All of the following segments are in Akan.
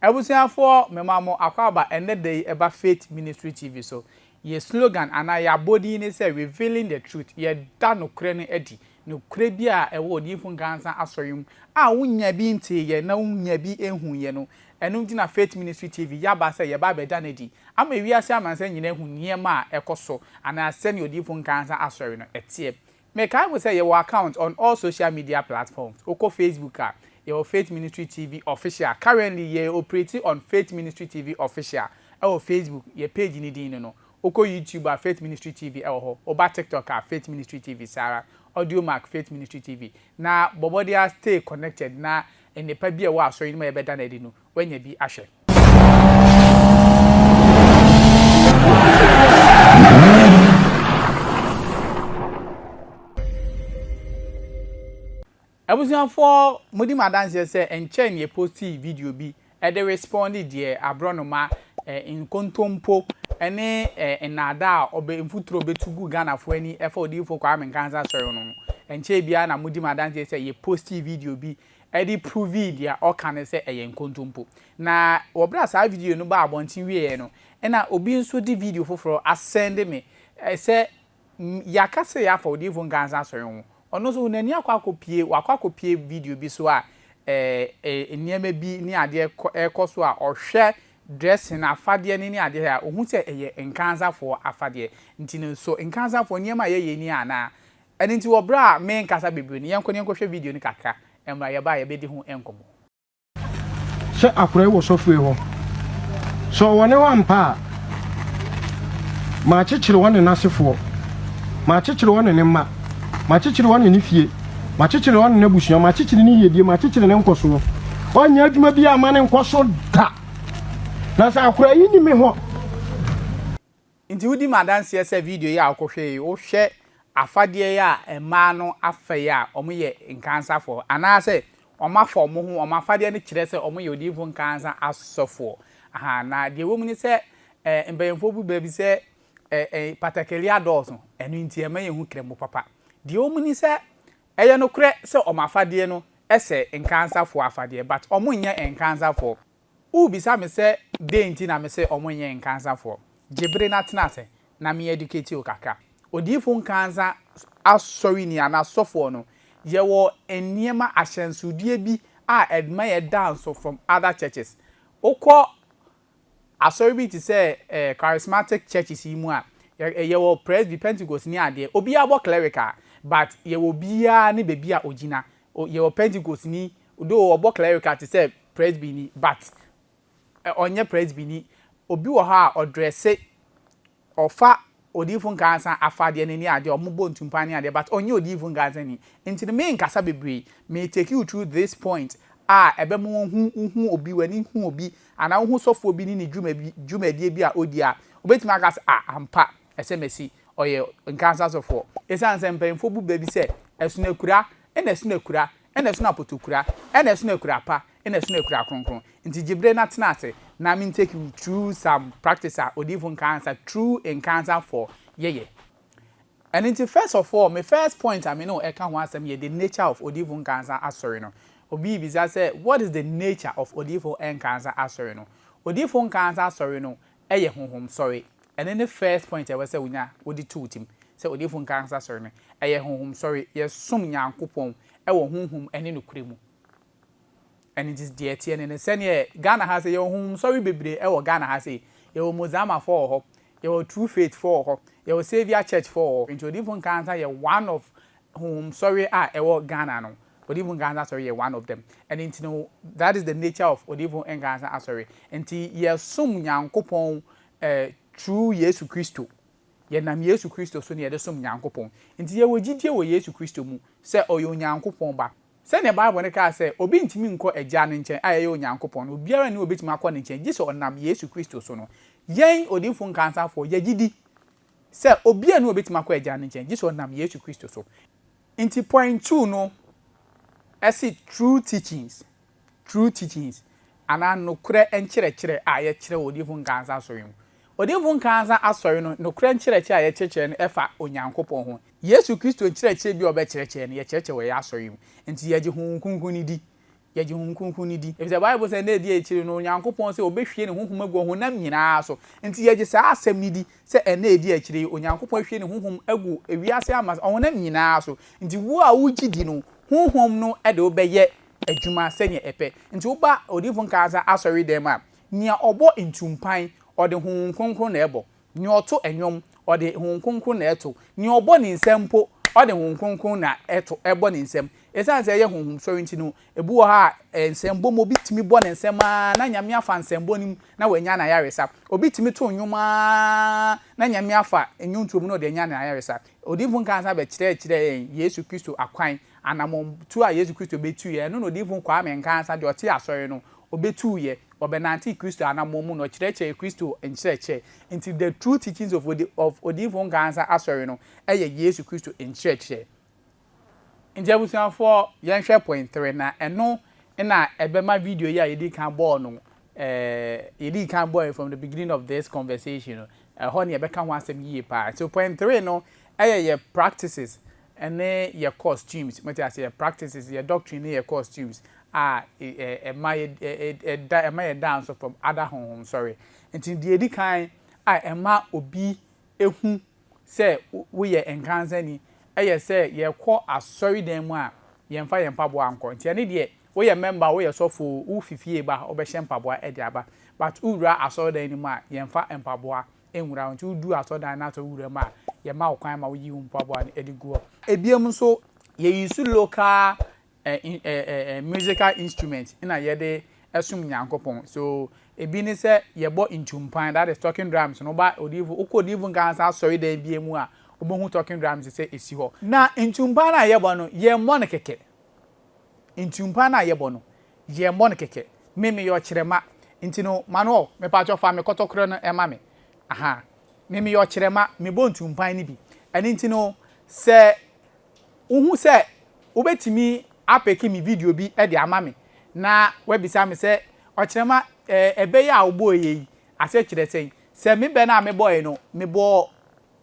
Abusuafoɔ mema mo akwaaba ɛnnɛ da yi ɛba Faith Ministry TV so. Yɛ slogan anaa yɛ abɔdin ne sɛ Revealing the Truth, Yɛda Nokorɛ no Adi. Nokorɛ bi a ɛwɔ Odiyifo Nkansah Asɔre mu a wonnya bi nteeɛ na wonnya bi nhuiɛ no, ɛno nti na Faith Ministry TV yɛaba sɛ yɛba abɛda no adi ama wiase amansan nyinaa ahu nneɛma a ɛkɔ so anaa sɛdeɛ Odiyifo Nkansah Asɔre no ɛteɛ. Mekae mo sɛ yɛwɔ account on all social media platforms, wokɔ Facebook a, yɛwɔ Faith Ministry TV Official, currently yɛ operate on Faith Ministry TV Official wɔ Facebook, yɛ page no din ne no, wokɔ YouTube a Faith Ministry TV wɔ hɔ, woba TikTok a Faith Ministry TV saa ara, Audiomack Faith Ministry TV, na bɔ mmɔden ara stay connected na nnepa bi a ɛwɔ Asɔre no mu a yɛbɛda no adi no, woanya bi ahwɛ. Abusuafoɔ mo di me adanseɛ sɛ ɛnkyɛɛ ne yɛ postii video bi de respondee deɛ aborɔnoma, nkontompo ne nnaadaa a ɔbɛ mfuturo bɛtu gu Ghanafoɔ ani ɛfa Odiyifoɔ Kwame Nkansah Asɔre ho no ho. Ɛnkyɛɛ biara na mo di me adanseɛ sɛ yɛ postii video bi ɛde provee deɛ ɔka no sɛ ɛyɛ nkontompo. Na wɔ berɛ a saa video no baa abɔnten wieeɛ no, ɛna obi nso de video foforɔ asɛnde me sɛ yɛaka sɛ yɛafa Odiyifo Nkansah Asɔre ho. Ɔno nso n'ani akɔ akɔpue, wakɔ akɔpue video bi so a nneɛma bi ne adeɛ rekɔ so a ɔhwɛ dressing, afadeɛ no ne adeɛ a, ɔhu sɛ ɛyɛ Nkansahfoɔ afadeɛ. Nti no, so Nkansahfoɔ nneɛma a yɛyɛ ni anaa? Ɛno nti wɔ berɛ a merenkasa bebree no, yɛnkɔ na yɛnkɔhwɛ video no kakra, mmra yɛba a yɛbɛdi ho nkɔmmɔ. Sɛ akorai wɔ sɔfoe hɔ, sɛ ɔwɔ ne hɔ ampa a, makyekyere ɔne n'asefoɔ, makyekyere ɔne ne mma, makyekyere ɔne ne fie, makyekyere ɔne n'abusua, makyekyere ne yiedie, makyekyere ne nkɔsoɔ. Ɔnyɛ adwuma biara mma no nkɔ so da. Na sɛ akorai yi nni me hɔ. Nti wodi me adanseɛ sɛ video yi a wokɔhwɛ yi wohwɛ afadeɛ yi a mmaa no afa yi a wɔyɛ nkansafoɔ anaasɛ wɔafa wɔn ho wɔn afadeɛ no kyerɛ sɛ wɔyɛ odiyifoɔ nkansa asɔfoɔ ahaa na deɛ ɛwɔ mu ne sɛ eh, mpanyinfoɔ bu baabi sɛ eh, eh, patakali adɔɔso ɛno nti ɛma yɛn ho krɛmo papa deɛ ɛwɔ mu ne sɛ ɛyɛ nokorɛ sɛ wɔn afadeɛ no ɛsɛ nkansafoɔ afadeɛ but wɔn nyɛ nkansafoɔ Wobisa me sɛ dɛn nti na mese ɔmo nyɛ nkansafoɔ? Gye bere na tena ase na me educate wo kakra. Odiyifo nkansa asɔreni anaa sɔfoɔ no, yɛwɔ nneɛma, ahyɛnsodeɛ bi a ɛma yɛ da nso from other churches. Wokɔ asɔre bi te sɛ eh, charismatic churches yi mu a, yɛ, yɛwɔ Presby, Pentecost ne adeɛ, obiara bɔ clerical, but yɛwɔ obiara ne baabi a ogyina. O yɛ wɔ Pentecost ni though ɔbɔ clerical te sɛ Presby ni but ɛ ɔnyɛ Presby ni. Obi wɔ hɔ a ɔdrɛse, ɔfa Odiyifo Nkansah afadeɛ no ne adeɛ a ɔmo bɔ ntumpa ne adeɛ but ɔnyɛ Odiyifo Nkansah ni. Nti no menkasa bebree, me take you through this point a ɛbɛma woahu, wohu obi, w'ani hu obi anaa wohu sɔfoɔ bi ne ne dwuma bi, dwumadie bi a odi a, wobɛtumi aka sɛ ah ampa, ɛsɛ masi ɔyɛ nkansa sɔfoɔ. Esiane sɛ mpanyimfoɔ bu bɛ bi sɛ ɛsono akura, ɛna ɛsono akura, ɛna ɛsono apotokura, ɛna ɛsono akura pa, ɛna ɛsono akura kronkron nti, gye bere na tena ase na me take wo through some practice a odiyifo nkansa, true nkansa fɔɔ, yɛyɛ. Ɛno nti first of all, me first point a me ne wo ɛka ho asɛm yɛ the nature of odiyifo nkansa asɔre no. Obi rebisa sɛ what is the nature of odiyifo nkansa asɔre no? Odiyifo nkansa asɔre no, Ɛyɛ honhom sɔre. Ɛno ne first point a ɛwɔ sɛ wonya wode to wo tim sɛ Odiyifo Nkankasa sɔre no. Ɛyɛ honhom sɔre. Yɛsom Nyankopɔn wɔ honhom ne nokorɛ mu. Ɛno nti deɛ ɛteɛ ne no, sɛdeɛ Ghana ha sɛ yɛwɔ honhom sɔre bebree wɔ Ghana ha sei. Yɛwɔ Mozama foɔ wɔ hɔ, yɛwɔ True Faith foɔ wɔ hɔ, yɛwɔ Saviour Church foɔ wɔ hɔ. Nti Odiyifo Nkankasa yɛ one of Honhomsɔre a ɛwɔ Ghana no, Ɔdiyifo Nkansah Asɔre yɛ one of them. Ɛno nti no, that is the nature of Ɔdiyifo Nkansah Asɔre. Nti yɛsom Nyankopɔn eh, through Yesu Kristo. Yɛnam Yesu Kristo so na yɛde som Nyankopɔn. Nti yɛwɔ gyidie wɔ Yesu Kristo mu sɛ Ɔyɛ Onyankopɔn Ba. Sɛdeɛ Bible no kaa sɛ, Obi ntumi nkɔ Agya no nkyɛn a ɛyɛ Onyankopɔn no, obiara nni hɔ a ɔbɛtumi akɔ ne nkyɛn gye sɛ ɔnam Yesu Kristo so no. Yɛn Ɔdiyifo Nkansafoɔ, yɛgye di Sɛ obiara nni hɔ a obetumi akɔ Agya no nkyɛn, gye sɛ ɔnam Yesu Kristo so. Enti point two no se true teachings, true teachings, anaa nokorɛ nkyerɛkyerɛ a yɛkyerɛ wɔ Odiyifo Nkaansa Asɔre no mu. Odiyifo Nkaansa Asɔre no nokorɛ nkyerɛkyerɛ a yɛkyerɛkyerɛ no fa Onyankopɔn ho. Yesu Kristo nkyerɛkyerɛ biara a ɔbɛkyerɛkyerɛ no, yɛkyerɛkyerɛ wɔ yɛn asɔre yi mu. Enti yɛgye Honhom Kronkron no di. yɛgye Honhom Kronkron no di, efisɛ Bible sɛ nna di a akyiri no Onyankopɔn sɛ obehwie ne honhom agu ɔhonam nyinaa so. Enti yɛgye saa asɛm no di sɛ nna a edi akyiri yi Onyankopɔn ahwie ne honhom agu wiase amas ɔhonam nyinaa so. Enti wo a wugye di no, honhom no de wo bɛyɛ adwuma sɛnea ɛpɛ. Enti woba Odiyifo Nkansah asɔredan mu a, nea ɔbɔ ntumpan, ɔde Honhom Kronkron na ɛbɔ. Nea ɔto nnwom, ɔde Honhom Kronkron na ɛto. Nea ɔbɔ ne nsam mpo, ɔde Honhom Kronkron na ɛto, ɛbɔ ne nsam. Esiane sɛ ɛyɛ honhom sɔre nti no, ebi wɔ hɔ a, ɛyɛ nsɛmbɔ mu. Obi tumi bɔ ne nsam ara na Nyame afa nsɛmbɔ no mu na wanya n'ayaresa. Obi tumi to nnwom ara na Nyame afa nnwontoɔ mu na ɔde anya n'ayaresa. Odiyifo Nkaa san bɛkyerɛkyerɛɛ yɛn Yesu Kristo akwan, anammɔntuo a Yesu Kristo bɛtuiɛ. Ɛno na Odiyifo Kwame Nkaa san, deɛ ɔte Asɔre no, ɔbɛtuiɛ. Wɔbɛnantee Kristo anammɔn mu na ɔkyerɛkyerɛɛ Kristo nkyerɛkyerɛ. Enti The True Teachings of Odi of Odiyifo Nkaansa Asɔre no yɛ Yesu Kristo nkyerɛkyerɛ. Enti abusuafoɔ, yɛnhwɛ point three na ɛno na ɛbɛma video yi a yɛdii kan bɔɔ no eh, yɛdii kan bɔɔe from the beginning of this conversation no, ɛhɔ na yɛbɛka ho asɛm yie paa. So point three no yɛ yɛ practices ɛne yɛ costumes, mote aseɛ, yɛ practices, yɛ doctrine ne yɛ costumes a ɛma yɛda ɛma yɛda nso from other honhom sɔre. Nti deɛ ɛdi kan a ɛma obi hu sɛ woyɛ nkansani yɛ sɛ yɛkɔ asɔredan mu a yɛmfa yɛn mpaboa nkɔ. Nti ɛne deɛ woyɛ member o, woyɛ sɔfo o, wofi fie ba ha wobɛhyɛ mpaboa de aba but wowura asɔredan no mu a yɛmfa mpaboa nhura wo. Ntsi wodu asɔrdan no asɔr wura mu a, yɛma wo kwan ma woyi wo mpaboa no de gu hɔ. Biom so, yeuse local musical instrument na yɛde som Nyankopɔn. So, bi nye sɛ yɛbɔ ntumpan, that is, talking drums no. Woba odiyifo, wokɔ odiyifo nkaansa asɔrdan biara mu a, wobohu talking drums sɛ esi hɔ. Na ntumpan no a yɛbɔ no, yɛmmbɔ no kɛkɛ. Ntumpaa no a yɛbɔ no, yɛmmɔ no kɛkɛ. Me, meyɛ ɔkyerɛma nti no, Manuel, mepakyɛw fa me kɔtɔkorɛ no ma me. Ahaa. Me, meyɛ ɔkyerɛma, mebɔ ntumpaa no bi. Ɛno nti no, sɛ wuhu sɛ wubetumi apeke me video bi de ama me na woabisa me sɛ, Ɔkyerɛma, eh, ɛbɛ yi a wobɔeɛ yi, aseɛ kyerɛ sɛn? Sɛ me bɛ no a mebɔe no, mebɔɔ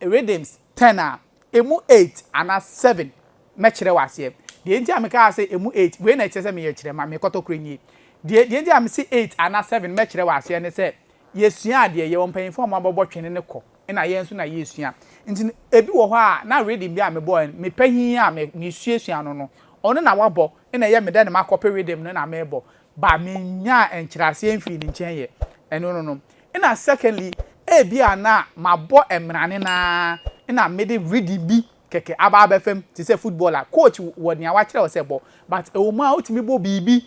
rhythms ten a, Emu eight anaa seven mɛkyerɛ wo aseɛ. Deɛ nti a mekaa sɛ emu eight, wei na ɛkyerɛ sɛ meyɛ kyerɛma, me kɔtɔkorɛ nie. Deɛ deɛ nti a mese eight anaa seven mɛkyerɛ wo aseɛ ne sɛ, yɛsua adeɛ, yɛwɔ mpanyinfoɔ a wɔabɛbɔ twene no kɔ, ɛna yɛn nso na yɛresua. Nti no, ebi wɔ hɔ a, na rhythm bi a mebɔeɛ no, me pahin a me mesuasua no no, ɔno na wabɔ, ɛna ɛyɛ me dɛ na makɔpe rhythm no na merebɔ, but mennyaa nkyerɛaseɛ mfii ne nkyɛn yɛ. Ɛno no no. Nna secondly ebia na mabɔ mberane no ara na mede reading bi kɛkɛ aba abɛfa mu te sɛ football a coach wɔ nea wakyerɛ wo sɛ bɔ but ɛwɔ mu a wotumi bɔ biribi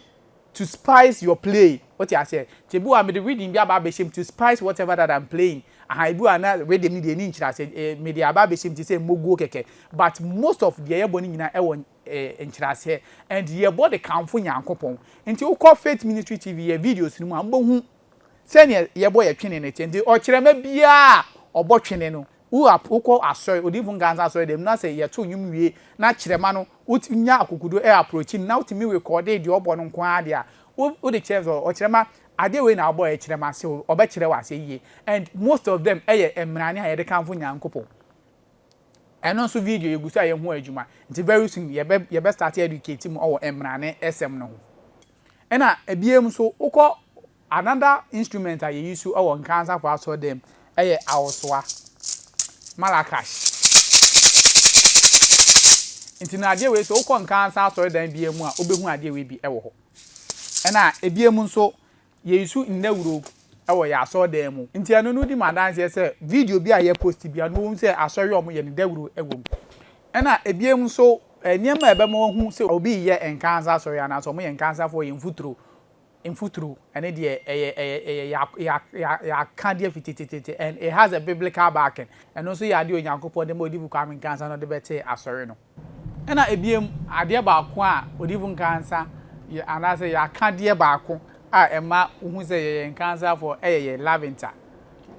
to spice your play wote aseɛ nti ebi wɔ a mede reading bi aba abɛhyɛ mu to spice whatever that I'm playing aha ebi wɔ a na reading no deɛ ɛni nkyerɛaseɛ eh, mede aba abɛhyɛ mu te sɛ mmoguo kɛkɛ but most of deɛ yɛbɔ no nyinaa ɛwɔ eh, nkyerɛaseɛ and yɛbɔ de kamfo Nyankopɔn nti wokɔ Faith Ministry TV yɛ videos no mu a wobɛhu Sɛnea yɛbɔ yɛn twene no kyɛn nti, ɔkyerɛma biara a wɔbɔ twene no, wo a wokɔ asɔre, Odiyifo Nkansah asɔredan mu, na sɛ yɛtow nnwom wie na kyerɛma no wotumi nya akokoduru a approachi no na wotumi rekɔɔde deɛ ɔbɔ no nko ara deɛ a, wo wode kyerɛ sɛ ɔkyerɛma adeɛ wei na wobɔ yɛ kyerɛma so ɔbɛkyerɛ wo aseɛ yie. And most of them yɛ mmrane a yɛde kamfo Nyankopɔn. Ɛno nso video yɛgu so a yɛn ho adwuma. Nti very soon yɛbɛ yɛbɛ start educate mu wɔ mmrane sɛm no ho. Nna bia mu so wokɔ another instrument a yɛuse wɔ Nkaa Asafo Asɔrdan mu yɛ awosoa, malakash. Nti no adeɛ wei sɛ wokɔ Nkaa Asa Asɔrdan bia mu a wobɛhu adeɛ wei bi wɔ hɔ. Nna bia mu nso yɛuse ndawuro wɔ yɛn asɔrdan mu. Nti ɛno no di me adanseɛ sɛ video bi a yɛ post biara no wɔhu sɛ asɔre a wɔn yɛ no dawuro wɔ mu. Ɛna ɛbiom nso nneɛma a ɛbɛma wɔahu sɛ obi reyɛ nkansa asɔre anaasɛ wɔn yɛ nkansafoɔ yɛ mfuturo. Mfuturo ɛno deɛ ɛyɛ ɛyɛ ɛyɛ yɛ yɛ yɛ yɛ aka deɛ fiti tititi and it has a biblical backing. Ɛno nso yɛ adeɛ a Onyankopɔn de ma Odifo Kwame Nkansah na ɔde bɛtee asɔre no. Ɛna ebiem, adeɛ baako a Odiyifo Nkansah yɛ anaasɛ yɛaka deɛ baako a ɛma wohu sɛ yɛyɛ Nkansahfoɔ ɛyɛ yɛ Lavinta,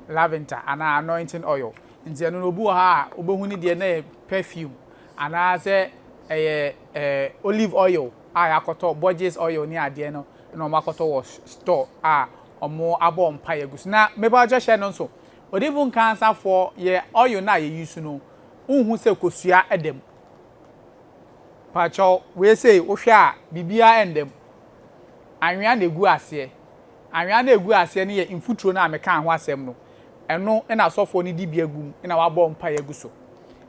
Lavinta anaa Anointing Oil. Nti ɛno no obi wɔ ha a wobɛhu ne deɛ na ɛyɛ perfume anaasɛ ɛyɛ ɛɛ olive oil a yɛakɔtɔ, Borges oil ne adeɛ no na wɔn akɔtɔ wɔ store a wɔn abɔ mpaeɛ agu so. Na mebawkyɛ hyɛ no nso, Odiyifo Nkansahfoɔ yɛ oil no a yɛ use no, wonhu sɛ kosua da mu. Pakyɛw, wei sei wohwɛ a biribiara nda mu. Anwea na egu aseɛ. Anwea no a egu aseɛ no yɛ mfuturo no a mekaa ho asɛm no. Ɛno na asɔfoɔ no di bia gu mu na wɔabɔ mpaeɛ agu so.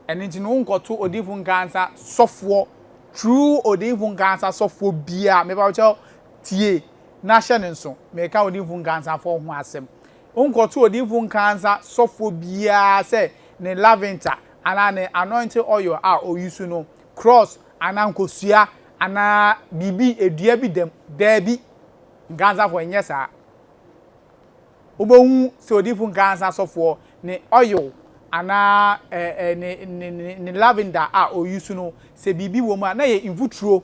Ɛno nti no wonkɔto odiyifo nkaansa sɔfoɔ, true odiyifo nkaansa sɔfoɔ biara, mepakyɛw tie na hyɛ no nso. Meka odiyifo nkaansafoɔ ho asɛm. Wonkɔto odiyifo nkansa sɔfoɔ biara sɛ ne laventa anaa ne anointing oil a ɔusu no, krɔɔs anaa nkosua anaa biribi, dua bi dam. Daabi, nkansafoɔ, ɛnyɛ saa. Wobɛhu sɛ odiyifo nkansa sɔfoɔ ne oil anaa ɛ, ɛ, ne, ne, ne, ne laventa a ɔusu no, sɛ biribi wɔ mu a, na ɛyɛ mfuturo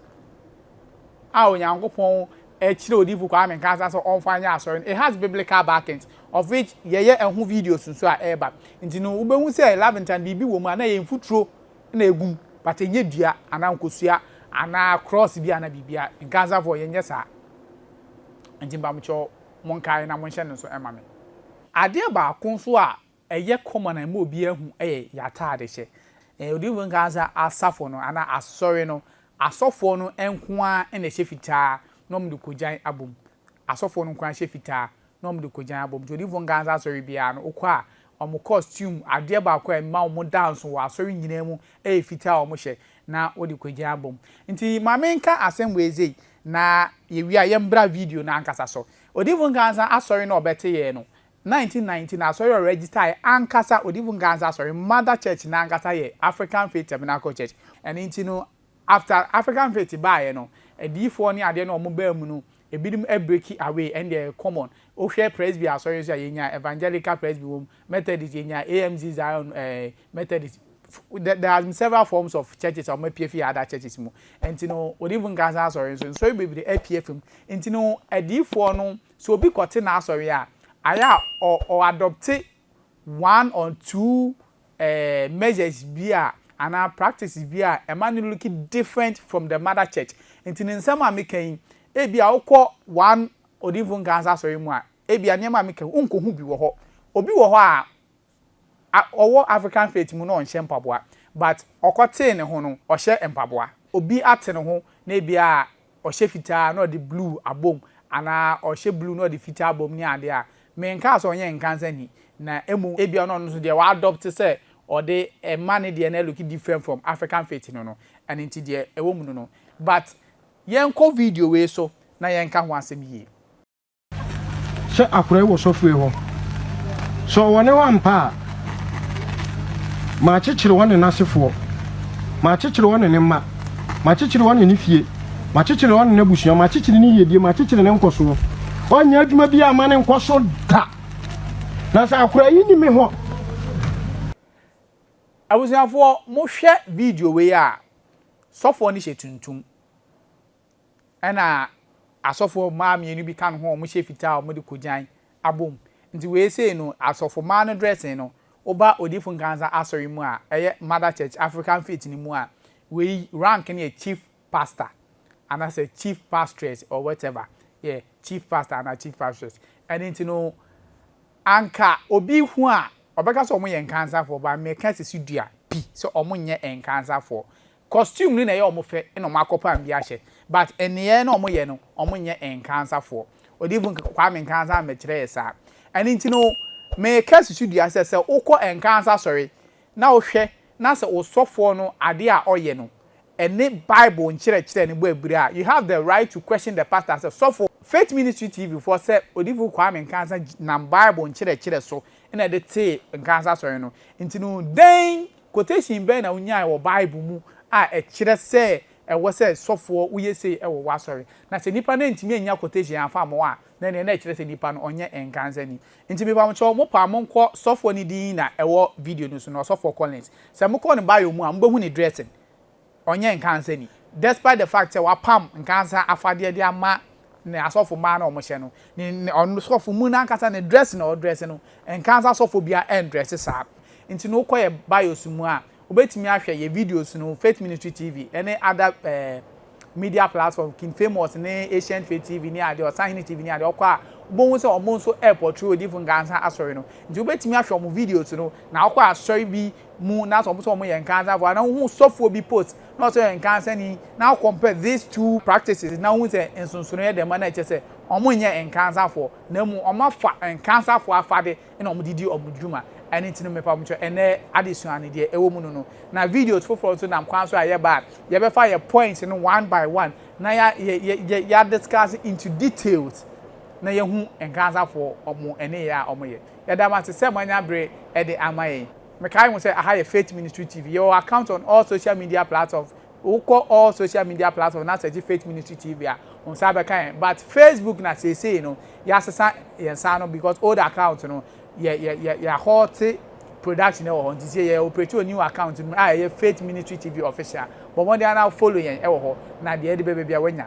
a Onyankopɔn Ɛkyerɛ Odiyifo Kwame Nkansah sɛ ɔmfa nyɛ asɔre no, it has biblical backings, of which yɛyɛ ɛho videos nso a ɛreba. Nti no wobɛhu sɛ laventa no biribi wɔ mu a na ɛyɛ mfuturo na ɛgu mu, but ɛnyɛ dua anaa nkosua anaa krɔɔse bi anaa biribi a. Nkansahfoɔ, yɛnyɛ saa. Nti mpamokyɛw monkae na monhyɛ no nso mma me. Adeɛ baako nso a Ɛyɛ kɔma na ɛma obiara hu yɛ y'ataade hyɛ. Odiyifo no kaa sɛ asafo no anaa asɔre no asɔfoɔ no nko ara na ɛhyɛ fitaa na wɔn de kɔgyan abom. Asɔfoɔ no nko ara hyɛ fitaa na wɔn de kɔgyan abom. Nti odiyifo no kaa sɛ asɔre biara no wokɔ a wɔn kɔstuum, adeɛ baako a ɛma wɔn da nso wɔ asɔre nyinaa mu ɛyɛ fitaa a wɔn hyɛ na wɔde kɔgyan abom. Nti maame nka asɛm wei sei na yɛwie a yɛn bra video no ankasa so. Odiyifo no kaa sɛ asɔre no a ɔbɛte yɛn no 1919 no asɔre a ɔregistae ankasa, Odiyifo Nkansah Asɔre, mother church no ankasa yɛ African Faith Tabernacle Church. Ɛno nti no after African Faith baeɛ no, adiyifoɔ ne adeɛ no a wɔbaa mu no, ebinom breaki away, ɛno deɛ ɛyɛ common. Wohwɛ Presby asɔre nso a, yɛnyaa Evangelical Presby wɔ mu, Methodist, yɛnyaa AMZ Zion eh, Methodist, there there has been several forms of churches a wɔapue afiri other churches mu. Ɛnti no Odiyifo Nkansah Asɔre nso, nsɔre bebree apue afiri mu. Ɛnti no adiyifoɔ no So obi kɔte n'asɔre a, ayɛ a ɔ ɔ adopte one or two eh measures bi a anaa practices bi a ɛma no look different from the mother church. Nti ne nsɛm a meka yi, ebi a wokɔ one Odinfo Nkansah asɔre mu a, ebi a nneɛma a meka yi, wonkohu bi wɔ hɔ. Obi wɔ hɔ a, a ɔwɔ African faith mu na ɔnhyɛ mpaboa but ɔkɔ tee ne ho no ɔhyɛ mpaboa. Obi ate ne ho na ebia ɔhyɛ fitaa na ɔde blue abom anaa ɔhyɛ blue na ɔde fitaa abom ne ade a, me nkaa sɛ ɔnyɛ nkansa ni na mmom ebia na ɔno nso deɛ wa adopt sɛ ɔde ɛma ne deɛ no ɛloki different from African faith no no ɛno nti deɛ ɛwɔ mu no no but yɛnkɔ video wei so na yɛnka ho asɛm yie. sɛ akorae wɔ sɔfoe hɔ. Sɛ ɔwɔ ne hɔ ampa a, makyekyere ɔne n'asefoɔ, makyekyere ɔne ne mma, makyekyere ɔne ne fie, makyekyere ɔne n'abusua, makyekyere ne yiedie, makyekyere ne nkɔsoɔ. Ɔnyɛ adwuma bi a ma ne nkɔ so da. Na sɛ akorae yi ni me hɔ. Abusuafoɔ, mohwɛ video wei a, sɔfoɔ no hyɛ tuntum. Ɛna asɔfoɔ mmaa mmienu bi ka ne ho a wɔhyɛ fitaa a wɔde kogyan abom. Nti wei sei no asɔfo mmaa no dressing no woba Odiyifo Nkansah Asɔre mu a ɛyɛ Mother Church African Faith no mu a wei rank no yɛ Chief Pastor anasɛ Chief Pastress or whatever yɛ Chief Pastor anaa Chief Pastress ɛno nti no anka obi hu a ɔbɛka sɛ wɔyɛ Nkansafoɔ ba meka sisi dua pi sɛ wɔnyɛ Nkansafoɔ Costume no na ɛyɛ wɔn fɛ na wɔn akɔpam bi ahyɛ but nneyɛɛ na wɔyɛ no wɔn nyɛ Nkansafoɔ. Odiyifoɔ Kwame Nkansa ammɛkyerɛ yɛ saa. Ɛno nti no meka susu dua sɛ sɛ wokɔ Nkansa asɔre na wohwɛ na sɛ osɔfoɔ no adeɛ a ɔyɛ no ɛne bible nkyerɛkyerɛ no bɔ abiri a you have the right to question the pastor sɛ sɔfo. Faith Ministry TV foɔ sɛ Odiyifoɔ Kwame Nkansa nam bible nkyerɛkyerɛ so na ɛde tee Nkansa asɔre no nti no dɛn Quotation bɛn na wunyae wɔ Bible mu a ɛkyerɛ sɛ ɛwɔ sɛ sɔfoɔ woyɛ sei wɔ w'asɔre? Na sɛ nipa no antumi annya quotation amfa amma wo a, na ɛneɛ na ɛkyerɛ sɛ nipa no ɔnyɛ nkansani. Nti me pamo kyɛw, mo pa mo nkɔ sɔfoɔ no din na ɛwɔ video no so no, Ɔsɔfoɔ Collins. Sɛ mo kɔ ne bio mu a, mo bɛhu ne dressing. ɔnyɛ nkansani despite the fact sɛ wapam nkansa afadeɛ de ama ne asɔfo mmaa na wɔhyɛ no, ne ne ɔsɔfo mu no ankasa ne dress na ɔdress no, nkansa asɔfo biara ɛndress saa. Nti no wokɔ yɛ bios mu a, wobɛtumi ahwɛ yɛ videos no, Faith Ministry TV ɛne other eh, media platform, King Famous ne Ancient Faith TV ne adeɛ, Ɔsahene TV ne adeɛ, ɔkɔ a wobɛhu sɛ wɔn nso ɛɛpɔtray Odiyifo Nkansa Asɔre no. Nti wobɛtumi ahwɛ wɔn videos no, na wokɔ asɔre bi mu na sɛ wɔn sɛ wɔn yɛ nkansafo a na wohu sɔfoɔ bi post na ɔsɛ ɔyɛ nkansani na wo compare these two practices na wohu sɛ nsonsonoeɛ dɛm a na ɛkyɛ sɛ wɔn nyɛ nkansafoɔ na mmom wɔn afa nkansafoɔ afade na wɔn de di wɔn dwuma ɛno nti no mepa mo kyɛ ɛnɛ adesua no deɛ ɛwɔ mu no no na videos foforɔ nso nam kwan so a yɛba a yɛbɛfa yɛ points no one by one na ya ya ya ya discuss into details na yɛhu nkansafoɔ wɔn ɛne yɛ a wɔn yɛ Yɛda mo ase sɛ moanya bere de ama yɛn. Mekae ho sɛ aha yɛ Faith Ministry TV. Yɛwɔ account on all social media platforms. Wokɔ all social media platforms na search Faith Ministry TV a, wo nsa bɛka yɛn. But Facebook na seesei no, yɛasesa yɛn nsa ano because old account no, yɛ yɛ yɛ yɛahɔlte production wɔ hɔ nti seesei yɛ operate wɔ new account no mu a ɛyɛ Faith Ministry TV Official. Bɔ mmɔden ara na follow yɛn wɔ hɔ na deɛ ɛde bɛba biara woanya.